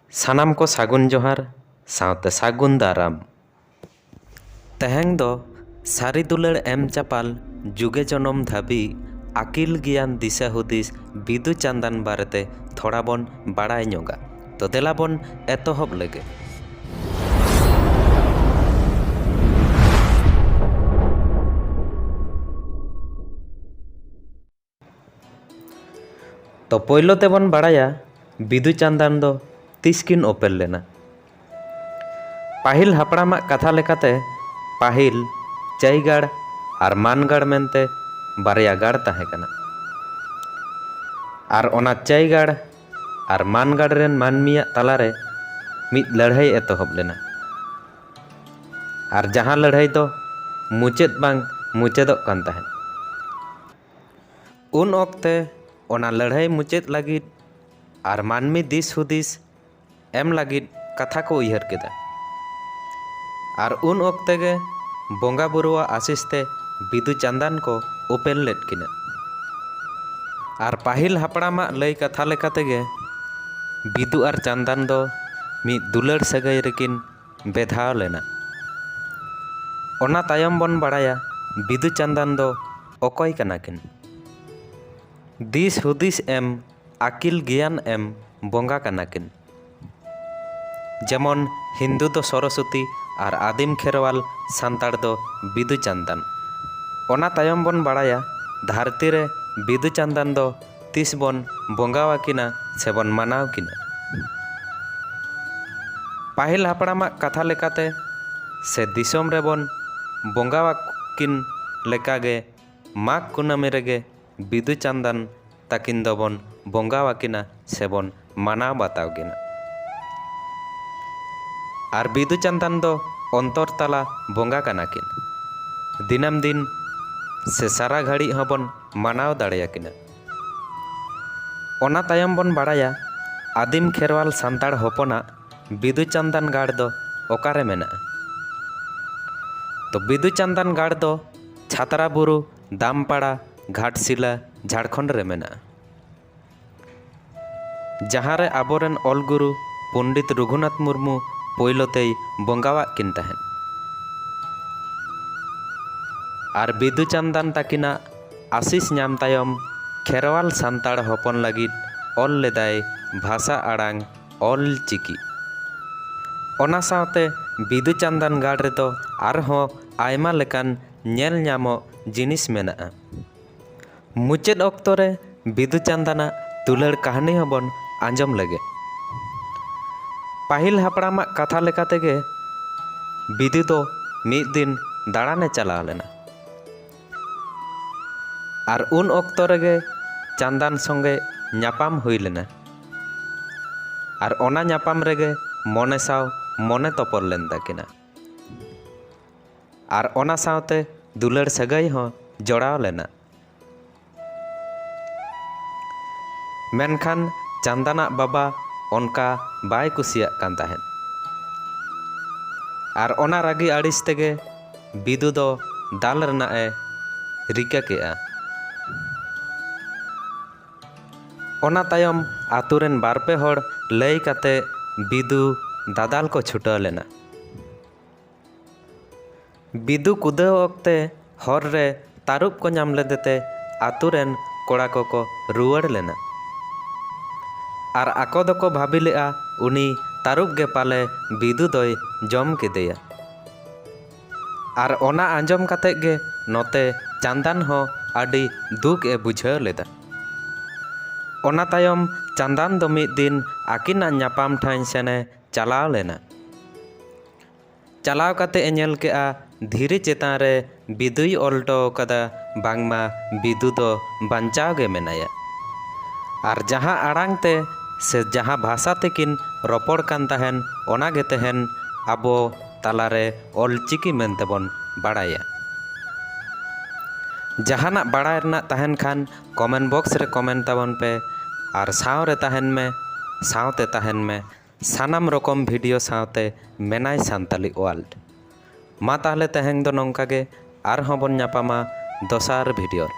ᱥᱟᱱᱟᱢ ᱠᱚ ᱥᱟᱹᱜᱩᱱ ᱡᱚᱦᱟᱨ ᱥᱟᱶᱛᱮ ᱥᱟᱹᱜᱩᱱ ᱫᱟᱨᱟᱢ᱾ ᱛᱮᱦᱮᱧ ᱫᱚ ᱥᱟᱹᱨᱤ ᱫᱩᱞᱟᱹᱲ ᱮᱢ ᱪᱟᱯᱟᱞ ᱡᱩᱜᱮ ᱡᱚᱱᱚᱢ ᱫᱷᱟᱹᱵᱤᱡ ᱟᱹᱠᱤᱞ ᱜᱮᱭᱟᱱ ᱫᱤᱥᱟᱹ ᱦᱩᱫᱤᱥ ᱵᱤᱫᱩ ᱪᱟᱸᱫᱟᱱ ᱵᱟᱨᱮ ᱛᱮ ᱛᱷᱚᱲᱟ ᱵᱚᱱ ᱵᱟᱲᱟᱭ ᱧᱚᱜᱟ᱾ ᱛᱚ ᱫᱮᱞᱟ ᱵᱚᱱ ᱮᱛᱚᱦᱚᱵ ᱞᱮᱜᱮ᱾ ᱛᱚ ᱯᱳᱭᱞᱳ ᱛᱮᱵᱚᱱ ᱵᱟᱲᱟᱭᱟ ᱵᱤᱫᱩ ᱪᱟᱸᱫᱟᱱ ᱫᱚ ᱛᱤᱥ ᱠᱤᱱ ᱚᱯᱮᱞ ᱞᱮᱱᱟ ᱯᱟᱹᱦᱤᱞ ᱦᱟᱯᱲᱟᱢᱟᱜ ᱠᱟᱛᱷᱟ ᱞᱮᱠᱟᱛᱮ ᱯᱟᱹᱦᱤᱞ ᱪᱟᱹᱭᱜᱟᱲ ᱟᱨ ᱢᱟᱱᱜᱟᱲ ᱢᱮᱱᱛᱮ ᱵᱟᱨᱭᱟ ᱜᱟᱲ ᱛᱟᱦᱮᱸ ᱠᱟᱱᱟ ᱟᱨ ᱚᱱᱟ ᱪᱟᱹᱭᱜᱟᱲ ᱟᱨ ᱢᱟᱱᱜᱟᱲ ᱨᱮᱱ ᱢᱟᱹᱱᱢᱤᱭᱟᱜ ᱛᱟᱞᱟᱨᱮ ᱢᱤᱫ ᱞᱟᱹᱲᱦᱟᱹᱭ ᱮᱛᱚᱦᱚᱵ ᱞᱮᱱᱟ ᱟᱨ ᱡᱟᱦᱟᱸ ᱞᱟᱹᱲᱦᱟᱹᱭ ᱫᱚ ᱢᱩᱪᱟᱹᱫ ᱵᱟᱝ ᱢᱩᱪᱟᱹᱫᱚᱜ ᱠᱟᱱ ᱛᱟᱦᱮᱸᱫ ᱩᱱ ᱚᱠᱛᱮ ᱚᱱᱟ ᱞᱟᱹᱲᱦᱟᱹᱭ ᱢᱩᱪᱟᱹᱫ ᱞᱟᱹᱜᱤᱫ ᱟᱨ ᱢᱟᱹᱱᱢᱤ ᱫᱤᱥ ᱦᱩᱫᱤᱥ ᱮᱢ ᱞᱟᱹᱜᱤᱫ ᱠᱟᱛᱷᱟ ᱠᱚ ᱩᱭᱦᱟᱹᱨ ᱠᱮᱫᱟ᱾ ᱟᱨ ᱩᱱ ᱚᱠᱛᱮ ᱜᱮ ᱵᱚᱸᱜᱟ ᱵᱩᱨᱩᱣᱟᱜ ᱟᱥᱤᱥ ᱛᱮ ᱵᱤᱫᱩ ᱪᱟᱸᱫᱟᱱ ᱠᱚ ᱩᱯᱮᱞ ᱞᱮᱫ ᱠᱤᱱᱟ᱾ ᱟᱨ ᱯᱟᱹᱦᱤᱞ ᱦᱟᱯᱲᱟᱢ ᱟᱜ ᱞᱟᱹᱭ ᱠᱟᱛᱷᱟ ᱞᱮᱠᱟᱛᱮ ᱜᱮ ᱵᱤᱫᱩ ᱟᱨ ᱪᱟᱸᱫᱟᱱ ᱫᱚ ᱢᱤᱫ ᱫᱩᱞᱟᱹᱲ ᱥᱟᱹᱜᱟᱹᱭ ᱨᱮᱠᱤᱱ ᱵᱮᱫᱷᱟᱣ ᱞᱮᱱᱟ᱾ ᱚᱱᱟ ᱛᱟᱭᱚᱢ ᱵᱚᱱ ᱵᱟᱲᱟᱭᱟ ᱵᱤᱫᱩ ᱪᱟᱱᱫᱟᱱ ᱫᱚ ᱚᱠᱚᱭ ᱠᱟᱱᱟ ᱠᱤᱱ᱾ ᱫᱤᱥ ᱦᱩᱫᱤᱥ ᱮᱢ ᱟᱠᱤᱞ ᱜᱮᱭᱟᱱ ᱮᱢ ᱵᱚᱸᱜᱟ ᱠᱟᱱᱟ ᱠᱤᱱ᱾ ᱡᱮᱢᱚᱱ ᱦᱤᱱᱫᱩ ᱫᱚ ᱥᱚᱨᱚᱥᱚᱛᱤ ᱟᱨ ᱟᱫᱤᱢ ᱠᱷᱮᱨᱣᱟᱞ ᱥᱟᱱᱛᱟᱲ ᱫᱚ ᱵᱤᱫᱩ ᱪᱟᱱᱫᱟᱱ᱾ ᱚᱱᱟ ᱛᱟᱭᱚᱢ ᱵᱚᱱ ᱵᱟᱲᱟᱭᱟ ᱫᱷᱟᱨᱛᱤ ᱨᱮ ᱵᱤᱫᱩ ᱪᱟᱱᱫᱟᱱ ᱫᱚ᱾ ᱛᱤᱥ ᱵᱚᱱ ᱵᱚᱸᱜᱟ ᱟᱹᱠᱤᱱᱟ ᱥᱮᱵᱚᱱ ᱢᱟᱱᱟᱣ ᱠᱤᱱᱟ? ᱯᱟᱹᱦᱤᱞ ᱦᱟᱯᱲᱟᱢ ᱟᱜ ᱠᱟᱛᱷᱟ ᱞᱮᱠᱟᱛᱮ ᱥᱮ ᱫᱤᱥᱚᱢ ᱨᱮ ᱵᱚᱱ ᱵᱚᱸᱜᱟ ᱟᱹᱠᱤᱱ ᱞᱮᱠᱟ ᱜᱮ ᱢᱟᱜᱽ ᱠᱩᱱᱟᱹᱢᱤ ᱨᱮᱜᱮ ᱵᱤᱫᱩ ᱪᱟᱱᱫᱟᱱ ᱛᱟᱹᱠᱤᱱ ᱫᱚ ᱵᱚᱱ ᱵᱚᱸᱜᱟ ᱟᱹᱠᱤᱱᱟ ᱥᱮᱵᱚᱱ ᱢᱟᱱᱟᱣ ᱵᱟᱛᱟᱣ ᱜᱮ ᱱᱟᱜ᱾ ᱟᱨ ᱵᱤᱫᱩ ᱪᱟᱸᱫᱟᱱ ᱫᱚ ᱚᱱᱛᱚᱨ ᱛᱟᱞᱟ ᱵᱚᱸᱜᱟ ᱠᱟᱱᱟ ᱠᱤᱱ᱾ ᱫᱤᱱᱟᱹᱢ ᱫᱤᱱ ᱥᱮ ᱥᱟᱨᱟ ᱜᱷᱟᱹᱲᱤᱡ ᱦᱚᱸ ᱵᱚᱱ ᱢᱟᱱᱟᱣ ᱫᱟᱲᱮ ᱟᱠᱤᱱᱟ᱾ ᱚᱱᱟ ᱛᱟᱭᱚᱢ ᱵᱚᱱ ᱵᱟᱲᱟᱭᱟ ᱟᱹᱫᱤᱢ ᱠᱷᱮᱨᱣᱟᱞ ᱥᱟᱱᱛᱟᱲ ᱦᱚᱯᱚᱱᱟᱜ ᱵᱤᱫᱩ ᱪᱟᱸᱫᱟᱱ ᱜᱟᱲ ᱫᱚ ᱚᱠᱟ ᱨᱮ ᱢᱮᱱᱟᱜᱼᱟ᱾ ᱛᱚ ᱵᱤᱫᱩ ᱪᱟᱸᱫᱟᱱ ᱜᱟᱲ ᱫᱚ ᱪᱷᱟᱛᱨᱟ ᱵᱩᱨᱩ, ᱫᱟᱢᱯᱟᱲᱟ, ᱜᱷᱟᱴᱥᱤᱞᱟ, ᱡᱷᱟᱲᱠᱷᱚᱸᱰ ᱨᱮ ᱢᱮᱱᱟᱜᱼᱟ᱾ ᱡᱟᱦᱟᱸ ᱨᱮ ᱟᱵᱚ ᱨᱮᱱ ᱚᱞ ᱜᱩᱨᱩ ᱯᱚᱱᱰᱤᱛ ᱨᱚᱜᱷᱩᱱᱟᱛᱷ ᱢᱩᱨᱢᱩ ᱯᱳᱭᱞᱳ ᱛᱮᱭ ᱵᱚᱸᱜᱟᱣᱟᱜ ᱠᱤᱱ ᱛᱟᱦᱮᱸᱫ ᱟᱨ ᱵᱤᱫᱩ ᱪᱟᱱᱫᱟᱱ ᱛᱟᱹᱠᱤᱱᱟᱜ ᱟᱥᱤᱥ ᱧᱟᱢ ᱛᱟᱭᱚᱢ ᱠᱷᱮᱨᱣᱟᱞ ᱥᱟᱱᱛᱟᱲ ᱦᱚᱯᱚᱱ ᱞᱟᱹᱜᱤᱫ ᱚᱞ ᱞᱮᱫᱟᱭ ᱵᱷᱟᱥᱟ ᱟᱲᱟᱝ ᱚᱞ ᱪᱤᱠᱤ ᱚᱱᱟ ᱥᱟᱶᱛᱮ ᱵᱤᱫᱩ ᱪᱟᱱᱫᱟᱱ ᱜᱟᱲ ᱨᱮᱫᱚ ᱟᱨᱦᱚᱸ ᱟᱭᱢᱟ ᱞᱮᱠᱟᱱ ᱧᱮᱞ ᱧᱟᱢᱚᱜ ᱡᱤᱱᱤᱥ ᱢᱮᱱᱟᱜᱼᱟ ᱢᱩᱪᱟᱹᱫ ᱚᱠᱛᱚ ᱨᱮ ᱵᱤᱫᱩ ᱪᱟᱸᱫᱟᱱᱟᱜ ᱫᱩᱞᱟᱹᱲ ᱠᱟᱹᱦᱱᱤ ᱦᱚᱸᱵᱚᱱ ᱟᱸᱡᱚᱢ ᱞᱮᱜᱮ ᱯᱟᱹᱦᱤᱞ ᱦᱟᱯᱲᱟᱢᱟᱜ ᱠᱟᱛᱷᱟ ᱞᱮᱠᱟ ᱛᱮᱜᱮ ᱵᱤᱫᱩ ᱫᱚ ᱢᱤᱫ ᱫᱤᱱ ᱫᱟᱬᱟᱱᱮ ᱪᱟᱞᱟᱣ ᱞᱮᱱᱟ ᱟᱨ ᱩᱱ ᱚᱠᱛᱚ ᱨᱮᱜᱮ ᱪᱟᱸᱫᱟᱱ ᱥᱚᱸᱜᱮ ᱧᱟᱯᱟᱢ ᱦᱩᱭ ᱞᱮᱱᱟ ᱟᱨ ᱚᱱᱟ ᱧᱟᱯᱟᱢ ᱨᱮᱜᱮ ᱢᱚᱱᱮ ᱥᱟᱶ ᱢᱚᱱᱮ ᱛᱚᱯᱚᱞ ᱞᱮᱱ ᱛᱟᱹᱠᱤᱱᱟ ᱟᱨ ᱚᱱᱟ ᱥᱟᱶᱛᱮ ᱫᱩᱞᱟᱹᱲ ᱥᱟᱹᱜᱟᱹᱭ ᱦᱚᱸ ᱡᱚᱲᱟᱣ ᱞᱮᱱᱟ᱾ ᱢᱮᱱᱠᱷᱟᱱ ᱪᱟᱱᱫᱟᱱ ᱟᱜ ᱵᱟᱵᱟ ᱚᱱᱠᱟ ᱵᱟᱭ ᱠᱩᱥᱤᱭᱟᱜ ᱠᱟᱱ ᱛᱟᱦᱮᱸᱫ᱾ ᱟᱨ ᱚᱱᱟ ᱨᱟᱹᱜᱤ ᱟᱹᱲᱤᱥ ᱛᱮᱜᱮ ᱵᱤᱫᱩ ᱫᱚ ᱫᱟᱞ ᱨᱮᱱᱟᱜ ᱮ ᱨᱤᱠᱟᱹ ᱠᱮᱫᱼᱟ᱾ ᱚᱱᱟ ᱛᱟᱭᱚᱢ ᱟᱹᱛᱩ ᱨᱮᱱ ᱵᱟᱨ ᱯᱮ ᱦᱚᱲ ᱞᱟᱹᱭ ᱠᱟᱛᱮ ᱵᱤᱫᱩ ᱫᱟᱫᱟᱞ ᱠᱚ ᱪᱷᱩᱴᱟᱹᱣ ᱞᱮᱱᱟ᱾ ᱵᱤᱫᱩ ᱠᱩᱫᱟᱹᱣ ᱚᱠᱛᱮ ᱦᱚᱨ ᱨᱮ ᱛᱟᱹᱨᱩᱵ ᱠᱚ ᱧᱟᱢ ᱞᱮᱫᱮ ᱛᱮ ᱟᱹᱛᱩ ᱨᱮᱱ ᱠᱚᱲᱟ ᱠᱚ ᱠᱚ ᱨᱩᱣᱟᱹᱲ ᱞᱮᱱᱟ ᱟᱨ ᱟᱠᱚ ᱫᱚ ᱠᱚ ᱵᱷᱟᱹᱵᱤ ᱞᱮᱫᱼᱟ ᱩᱱᱤ ᱛᱟᱹᱨᱩᱵ ᱜᱮ ᱯᱟᱞᱮ ᱵᱤᱫᱩ ᱫᱚᱭ ᱡᱚᱢ ᱠᱮᱫᱮᱭᱟ᱾ ᱟᱨ ᱚᱱᱟ ᱟᱸᱡᱚᱢ ᱠᱟᱛᱮ ᱜᱮ ᱱᱚᱛᱮ ᱪᱟᱸᱫᱟᱱ ᱦᱚᱸ ᱟᱹᱰᱤ ᱫᱩᱠ ᱮ ᱵᱩᱡᱷᱟᱹᱣ ᱞᱮᱫᱟ᱾ ᱚᱱᱟ ᱛᱟᱭᱚᱢ ᱪᱟᱸᱫᱟᱱ ᱫᱚ ᱢᱤᱫ ᱫᱤᱱ ᱟᱹᱠᱤᱱᱟᱜ ᱧᱟᱯᱟᱢ ᱴᱷᱟᱺᱭ ᱥᱮᱱ ᱮ ᱪᱟᱞᱟᱣ ᱞᱮᱱᱟ᱾ ᱪᱟᱞᱟᱣ ᱠᱟᱛᱮ ᱮ ᱧᱮᱞ ᱠᱮᱫᱼᱟ ᱫᱷᱤᱨᱤ ᱪᱮᱛᱟᱱ ᱨᱮ ᱵᱤᱫᱩᱭ ᱚᱞ ᱦᱚᱴᱚ ᱟᱠᱟᱫᱟ ᱵᱟᱝᱢᱟ ᱵᱤᱫᱩ ᱫᱚ ᱵᱟᱧᱪᱟᱣ ᱜᱮ ᱢᱮᱱᱟᱭᱟ᱾ ᱟᱨ ᱡᱟᱦᱟᱸ ᱟᱲᱟᱝ ᱛᱮ ᱥᱮ ᱡᱟᱦᱟᱸ ᱵᱷᱟᱥᱟ ᱛᱮᱠᱤᱱ ᱨᱚᱯᱚᱲ ᱠᱟᱱ ᱛᱟᱦᱮᱸᱱ ᱚᱱᱟ ᱜᱮ ᱛᱮᱦᱮᱧ ᱟᱵᱚ ᱛᱟᱞᱟ ᱨᱮ ᱚᱞᱪᱤᱠᱤ ᱢᱮᱱᱛᱮ ᱵᱚᱱ ᱵᱟᱲᱟᱭᱟ᱾ ᱡᱟᱦᱟᱱᱟᱜ ᱵᱟᱲᱟᱭ ᱨᱮᱱᱟᱜ ᱛᱟᱦᱮᱱ ᱠᱷᱟᱱ ᱠᱚᱢᱮᱱᱴ ᱵᱚᱠᱥ ᱨᱮ ᱠᱚᱢᱮᱱᱴ ᱛᱟᱵᱚᱱ ᱯᱮ ᱟᱨ ᱥᱟᱶ ᱨᱮ ᱛᱟᱦᱮᱱ ᱢᱮ ᱥᱟᱶᱛᱮ ᱛᱟᱦᱮᱱ ᱢᱮ ᱥᱟᱱᱟᱢ ᱨᱚᱠᱚᱢ ᱵᱷᱤᱰᱤᱭᱳ ᱥᱟᱶᱛᱮ ᱢᱮᱱᱟᱭ ᱥᱟᱱᱛᱟᱞᱤ ᱳᱣᱟᱞᱰ᱾ ᱢᱟ ᱛᱟᱦᱞᱮ ᱛᱮᱦᱮᱧ ᱫᱚ ᱱᱚᱝᱠᱟ ᱜᱮ ᱟᱨᱦᱚᱸ ᱵᱚᱱ ᱧᱟᱯᱟᱢᱟ ᱫᱚᱥᱟᱨ ᱵᱷᱤᱰᱤᱭᱳ ᱨᱮ᱾